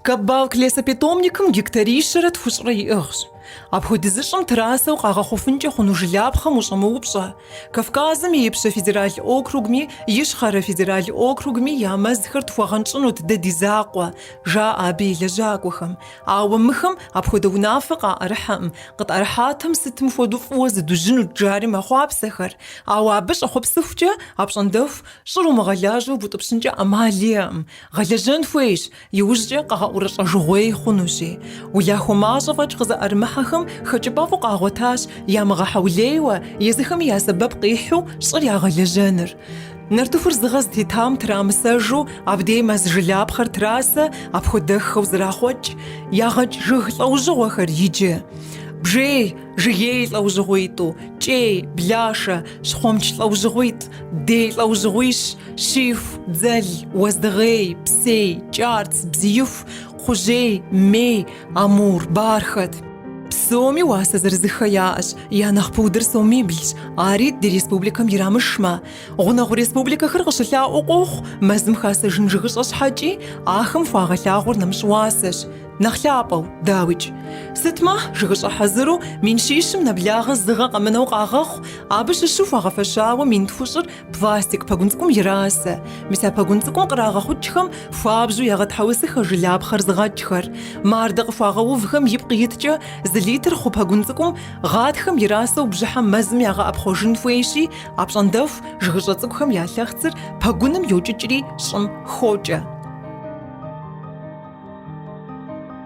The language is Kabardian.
Кабалк лесопитомникым гектарищэрэ тхущӏрэ иӏыгъщ. Апхуэдиз щӏым трасэу къагъэхъуфынкӏэ хъуну жылапхъэм ущӏэмыупщӏэ, Кавказым и Ипщэ федерал округми Ищхъэрэ федерал округми я мэзхэр тхуэгъэнщӏынут дэ ди закъуэ, жаӏэ абы и лэжьакӏуэхэм. Ауэ мыхэм апхуэдэ унафэ къаӏэрыхьэкъым, къытӏэрыхьатэм сытым хуэдэу фӏыуэ зыдужьынут жари мэхъуапсэхэр, ауэ абы щӏэхъуэпсыхукӏэ апщӏондэху щӏыр умыгъэлажьэу бутӏыпщынкӏэ ӏэмал иӏэкъым, Гъэлэжьэн хуейщ, иужькӏэ къэгъэӏурыщӏэжыгъуей хъунущи. Улахуэ мащӏэ фӏэкӏ къызэӏэрымыхьэхэм хэкӏыпӏэфӏу къагъуэтащ ямыгъэхьэулейуэ, езыхэми я сэбэп къихьу щӏыр ягъэлэжьэныр. Нартыхур зыгъэ зытетам трамысэжу, абдей мэз жылапхъэр трасэ апхуэдэххэу зэрахъуэкӏ, ягъэкӏ жыг лӏэужьыгъуэхэр иджы. Бжей. Жыгей лӏэужьыгъуитӏу, кӏей, блашэ, щхъуэмч лӏэужьыгъуитӏ, дей лӏэужьыгъуищ, щиху, дзэл, уэздыгъей, псей, кӏарц, бзииху, кхъужьей, мей, амур бархэт. Псоми уасэ зырызыххэ яӏэщ, я нэхъ пудыр сомиблщ, ари ди республикэм ирамышмэ. Гъунэгъу республикэхэр къыщылъаӏуэу къохъу, мэзым хасэжын жыгыщӏэ щхьэкӏи, ахэм хуагъэлъагъуэр нэмыщӏ уасэщ. Нэхъ лъапӏэу, дауикӏ. Сытмэ, жыгыщӏэ хьэзыру, мин щищым нэблагъэ зыгъэ къэмынэу къагъэхъу, абы щыщу хуагъэфэщауэ мин тхущӏыр пластик пэгун цӏыкӏум ирасэ. Мис а пэгун цӏыкӏум кърагъэхъукӏхэм хуабжьу ягъэтхьэусыхэ жылапхъэр зыгъэкӏхэр. Мардэ къыхуагъэувхэм ипкъ иткӏэ, зы литр хъу пэгун цӏыкӏум гъатхэм ирасэу бжьыхьэм мэзым ягъэӏэпхъуэжын хуейщи, Апщӏондэху жыгыщӏэ цӏыкӏухэм я лъэхъцыр пэгуным йокӏыкӏри щӏым хокӏэ.